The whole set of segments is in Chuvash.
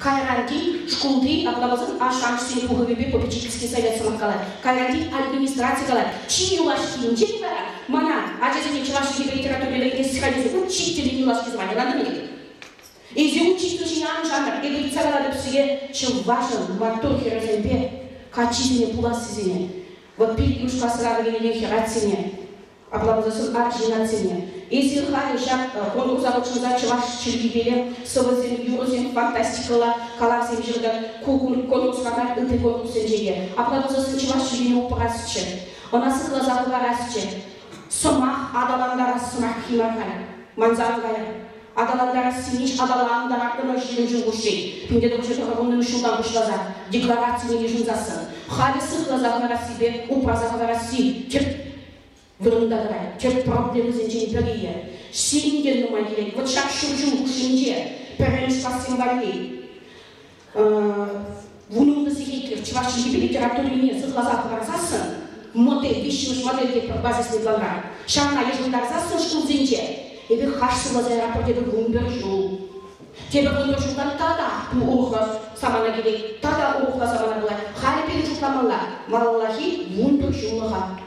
Кайранти шкулти образовӑн ашшӗ-амӑшӗсен пухӑвӗпе попечительски совет сӑмах калать. Кайранти администраци калать, чи юлашкинче вара мана ачасене чӑваш чӗлхипе литературипе ӗлкӗресси хатӗресе ун ҫич тӗллӗн юлашки званиелантӑм ӗнтӗ. Эсӗ ун читлӗшӗн ан шантар, эпӗ ыйтса калатӑп сире чӑвашӑн маттур хӗрӗсемпе каччисене пулассисене, вӑт пирӗн юрс-классра вӗренекен хӗрачсене, Апла пулсан арҫыннансене эсир халӗ ҫак конкурса хутшӑнса чӑваш чӗлхипеле сӑвӑсем, юрӑсем, фантастикӑлла калавсем ҫыртӑр, ку конкурсра мар, ытти конкурссенче те. Апла пулсан чӑваш чӗлхине упрасчӗ, ӑна сыхласа хӑварасчӗ. Сӑмах аталантарас сӑмах килмӗ халь. Манса ан кайӑр. аталантарассине аталантараттӑмӑр ҫирӗм ҫул хушши. Пӗлтӗрхи тӑхӑрвуннӑмӗш ҫултан пуҫласа декларацине йышӑнсассӑн халӗ сыхласа хӑварассипе упраса хӑварасси тӗп вырӑнта тӑрать, тӗп проблемӑсенчен пӗрийӗ. Сирӗн те нумай килет. Вӑт ҫак ҫур ҫул хушшинче пӗрремӗш классем валли вунӑ сехетлӗх чӑваш чӗлхипе литературине сыхласа хӑварсассӑн модель виҫҫӗмӗш модель те пӗр базис методран ҫавна йышӑнтарсассӑн шкулсенче эпир хашсӑлласа яратпӑр тетӗп вунпӗр ҫул тепӗр вунпӗр ҫулта тата ку урӑхла самана килет тата урӑхла самана пулать халӗ пирӗн шутламалла малаллахи вунпӗр ҫуллӑха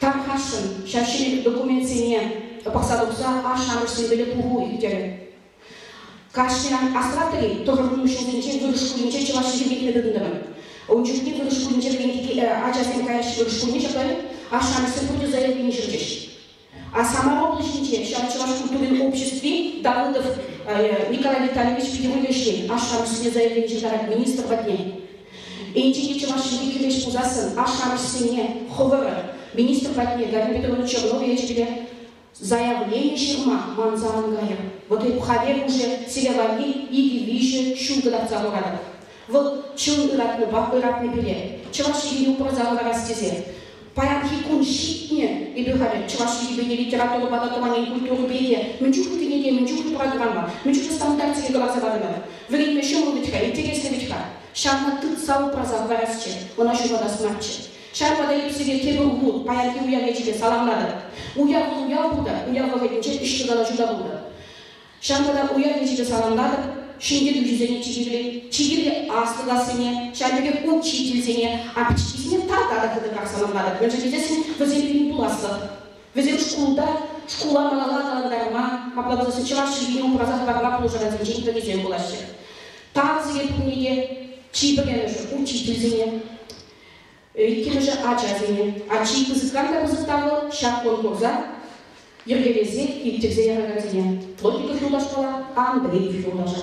Тархасшӑн, ҫав ҫӗнӗ документсене пӑхса тухса ашшӗ-амӑшсемпеле пуху ирттерӗ. Кашниран асра тӑни тӑхӑркун ҫулсенче вырӑс шкулӗнче чӑваш чӗлхи вилнӗ тытӑнтӑмӑр. Ун чухне вырӑс шкулӗнче вӗренекен ачасем каяҫҫӗ вырӑс шкулне ҫапла ашшӗ-амӑшсем пурте заявлени ҫырчӗҫ. А самая облаҫӗнче ҫав чӑваш культурин обществи Давыдов э, Николай Витальевич Федеруллишӗн ашшӗ-амӑшӗсене заявлени ҫыртарать министр патне. Енчӗке чӑваш чӗлхи кӗмеш пулсассӑн ашшӗ-амӑшӗсене хӑвӑр министр патне Галина Петровна Чернова ячӗпе заявлени ҫырма манса ан кайӑр. Вот эп хавер уже сире валли икӗ-виҫӗ ҫул кӑтартса хуратӑп. Вӑл чун ыратнипе ыратнӑ пире Чӑваш Ене упраса кӑларас тесе паянхи кун ҫитнӗ. Эпир халӗ Чӑваш Енӗпе те, литературӑпа та, тӑван ен культурипе те мӗн чухлӗ кӗнеке, мӗн чухлӗ упраса тӑранма, мӗн чухлӗ стандартсене кӑларса патӑмӑр. Вӗренме ҫӑмӑл вӗт-ха, интереслӗ вӗт-ха. Ҫавна тытса упраса кӑларасчӗ, ӑна ҫухатас марччӗ. Ҫавӑнпа та эп сире тепӗр уху паянхи уяв ячӗпе саламлатӑп. Уяв вӑл уяв пултӑр, уяв вӑхӑтӗнче ӗҫлӗ калаҫу та пултӑр. Ҫамрӑка уяв ячӗпе саламлатӑп, ҫемье тусӗсене чи кирли, чи кирли, аслӑ-классене, ҫавӑн пекех учительсене, апчиккисене тата та хытӑрах саламлатӑп, мӗншӗн тесен вӗсем пирӗн пуласлӑх. Вӗсем шкулта, шкула малалла аталантарма, апла пуласен чӑваш чӗлхине упраса хӑварма пулӑшакансенчен пӗрисем пулаҫҫӗ. Тав сире пурне те, чи пӗрремӗшӗ, учительсене. Иккӗмӗшӗ ачасене, ачи пысӑкран та пысӑк та вӑл, ҫак конкурса йӗркелесе ирттерсе яракансене, логика юлташпала Андрей юлташа,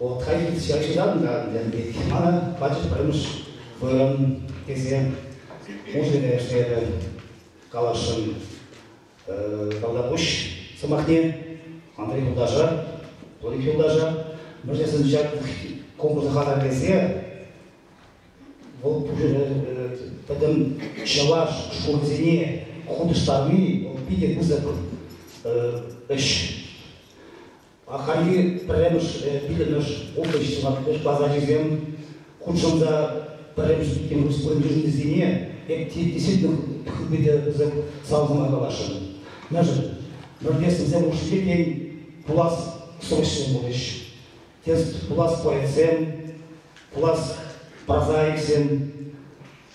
Отка илсе шыран та янкет. Мана пачӗ пӗрмӗш вырӑн тесе музыка ӗҫтешӗ каласшӑн Калдапуҫ сӑмахне, Андрей юлташа, Толик юлташа. Мӗншӗн ҫак конкурса хатӗрлесе вӑл пӗтӗм чӑваш шкулӗсене хутӑштарни вӑл питӗ пысӑк ӗҫ. Ахальхи пӗрремӗш, пиллӗмӗш, ултӑ ҫӑмах базарҫисем хутшӑнса пӗрремӗш иккен республикӑсене эпти действительно хыпете пысӑк салхуна каласшӑн. Мӗншӗн? Норвежсенсем хушшинче тен пулас срочсем пулӗҫ. Тес пулас поэтсем, пулас прозаиксем,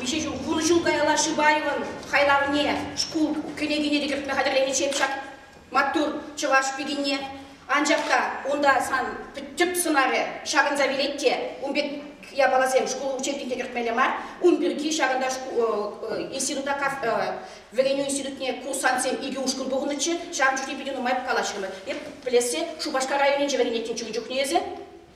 Виҫӗ ҫул, вунӑ ҫул каялла Шибаевӑн хайлавне, шкул кӗнекине те кӗртме хатӗрлениччен ҫак маттур чӑваш пикине, анчах та унта сан тӗп сӑнарӗ ҫакӑнса вилет те, ун пек япаласем шкул учебникне кӗртмелле мар. Ун пирки ҫакӑнта институтта вӗренӳ институтне курсантсем икӗ ушкӑн пухӑннӑччӗ, ҫавӑн чухне питӗ нумай калаҫрӑмӑр. Эп пӗлессе Шупашкар районӗнче вӗренеттӗм чукун чухне эсӗ.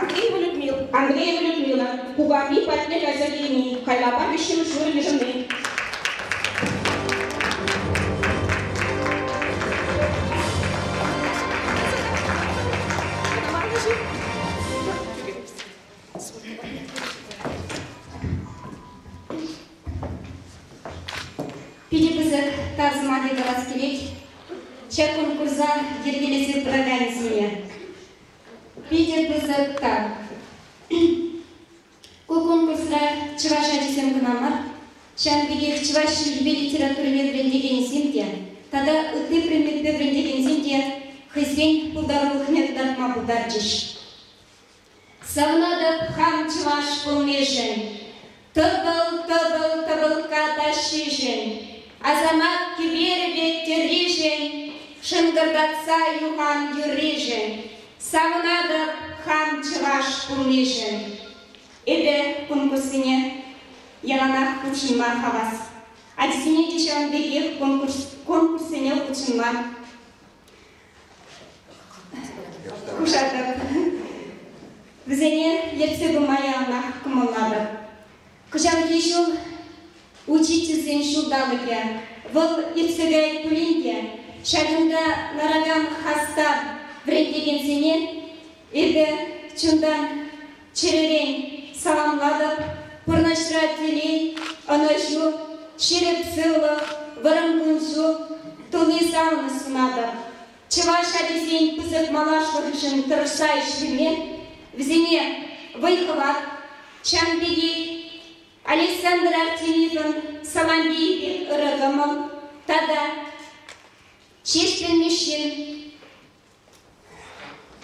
Андреева Людмила, Андреева Людмила, Кукарни патне кайса килни, Кайлапа виҫҫӗмӗш вырӑн йышӑнни. Питӗ пысӑк таз мали тӑвас килет ҫак конкурса йӗркелесе пыраканӗсене. Питӗ пысӑк тав. Ку конкурсра чӑваш ачисем кӑна мар, ҫавӑн пекех чӑваш чӗлхипе литературине вӗрентекенсем те тата ытти предметпе вӗрентекенсем те хӑйсен пултарулӑхне кӑтартма пултарчӗҫ. Савнатӑп хам чӑваш пулнишӗн, Тӑпӑл-тӑпӑл тӑпӑлкка тащишӗн, Асамат кӗперӗ пек тӗрришӗн, Шӑнкӑртатса юхан юрришӗн, Савнатӑп хам чӑваш пулнишӗн. Эпӗ кун пуссине яланах хутшӑнма хавас. Ачасене те ҫавӑн пекех конкурссене хутшӑнма Пушатӑр. Вӗсене ертсе пыма яланах кӑмӑллатӑп. Кӑҫалхи ҫул учительсен ҫулталӑкӗ. Вӑл иртсе каять пулин те ҫакӑнта ларакан хастар вӗрентекенсене Эпӗ чунтан, чӗререн саламлатӑп, пурнӑҫра телей, ӑнӑҫу, ҫирӗп сывлӑх, вӑрӑм кун-ҫул туни савнӑ сунатӑп. Чӑваш ачисен пысӑк малашлӑхӗшӗн тӑрӑшса ӗҫлеме, вӗсене вӑй-хӑват, ҫавӑн пекех Александр Артемьевӑн Самандееве ырӑ кӑмӑл тата Ҫеҫпӗл Мишшин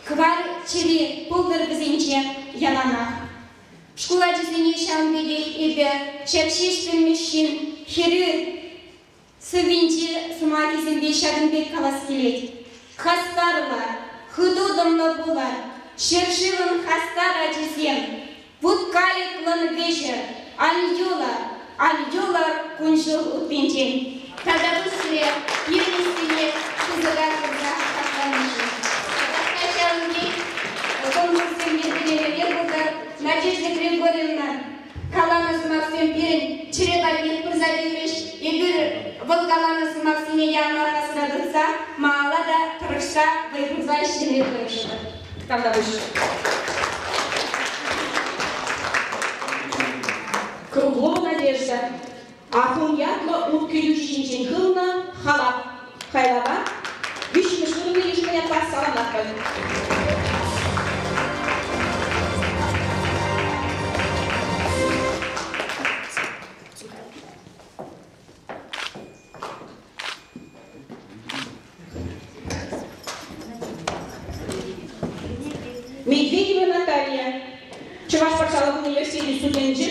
Кӑвар чӗри пултӑр вӗсенче яланах. Шкул ачисене ҫавӑн пекех эпӗ ҫак ҫеҫ пӗлмӗҫҫӗн хӗрӳ сӑввинче сӑмахӗсемпе ҫакӑн пек калас килет. Хастарла, хыту тӑнлӑ пулӑр, ҫӗршывӑн хастар ачисем! Вут-каликлӑн вӗҫӗ Альюла, Альюла кун-ҫул утнинчен тата пуҫре пирӗнессине пысӑка хурса хакланишӗн тата хаҫатӑнчи кӑмӑлсем йӗркелевӗпе пулса Надежда Григорьевна каланӑ сӑмахсем пирӗн чӗре валли пырса тивӗҫ. Эпир вӑл каланӑ сӑмахсене янӑ аркасра тытса, маала та тӑрӑшса вӑй хурса ӗҫлеме тӑрӑшӑпӑр. Тантанӑҫ. Круглова Надежда, Акун ятлӑ ут кӗтӳ ҫинчен хывнӑ халап хайлава виҫҫӗмӗш вырӑнта йышӑннӑ ятпа саламлатпӑр. Медведева Наталья, Чӑваш патшалӑх университечӗн студенчӗ.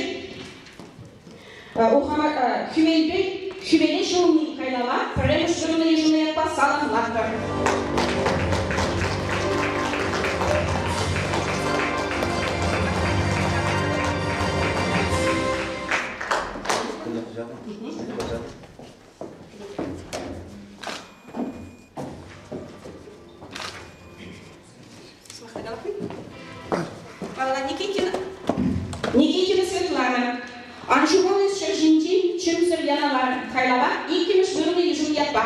Хӳмелпе хӳмеле ҫулни кайлава пӗрремӗш вырӑнлӑ йышӑннӑ ятпа саламлатпӑр. Павла Никитина Никитина Светлана ан ҫухалнӑ ҫӗр ҫинчи чӗмсӗр яналар хайлава иккӗмӗш вырӑнӗ йышӑн ятпа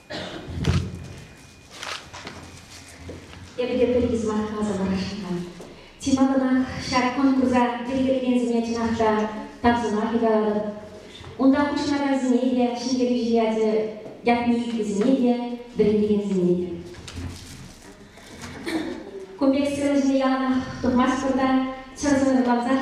Эпӗ те пӗрикӗ сӑмах каласа парасшӑн. Чи малтанах ҫак конкурса йӗркелекенсене чӑнах та тав сӑмахӗ калатӑп. Унта хутшӑнакансене те, ҫӗнтерӳҫӗ ячӗ ятне илтнисене те, вӗрентекенсене те. Кун пек сцена ҫине яланах тухмастпӑр та чӑрсӑр вӑрлансах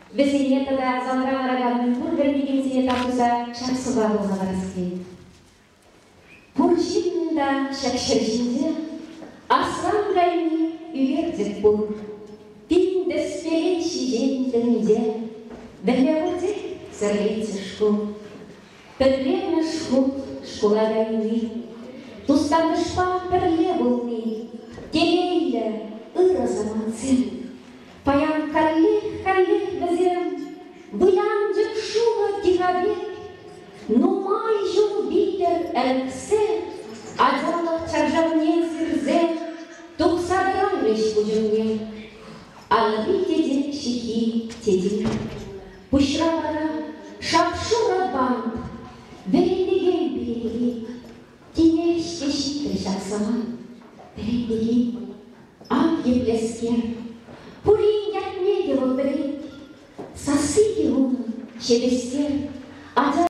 Вӗсене тата залра ларакан пурпӗр пикенсене тасуса ҫак суха пулса парас килет. Пур ҫыннӑн та ҫак ҫӗр ҫинче асфальт кайни ӳкерчӗк пур. Тин тӗскеле ҫиҫен тӗнче. Вӗлле хурчӗк сӗрлетчӗ шкул. Пӗтремӗш хут шкула кайни, тустанӑшпа пӗрле пулни, телейлӗ ырӑ самантсем. Паян каллех-каллех вӗсем вылянчӑк шурӑ тина пек нумай ҫул витӗр ӗлксе ачалӑх чаршавне сирсе тухса тӑрарӗҫ пуҫӑмне. Алли тете ҫыхи тете. Пуҫра вара шап-шурӑ бант, вӗретекен пирки. Тинех ҫеҫ ҫитрӗ ҫак самант. Вӗрентекен пул, ав еплескер. Пурин ятне те вӑл вӗрент. Сасси те унӑн ҫепӗҫсер. Ача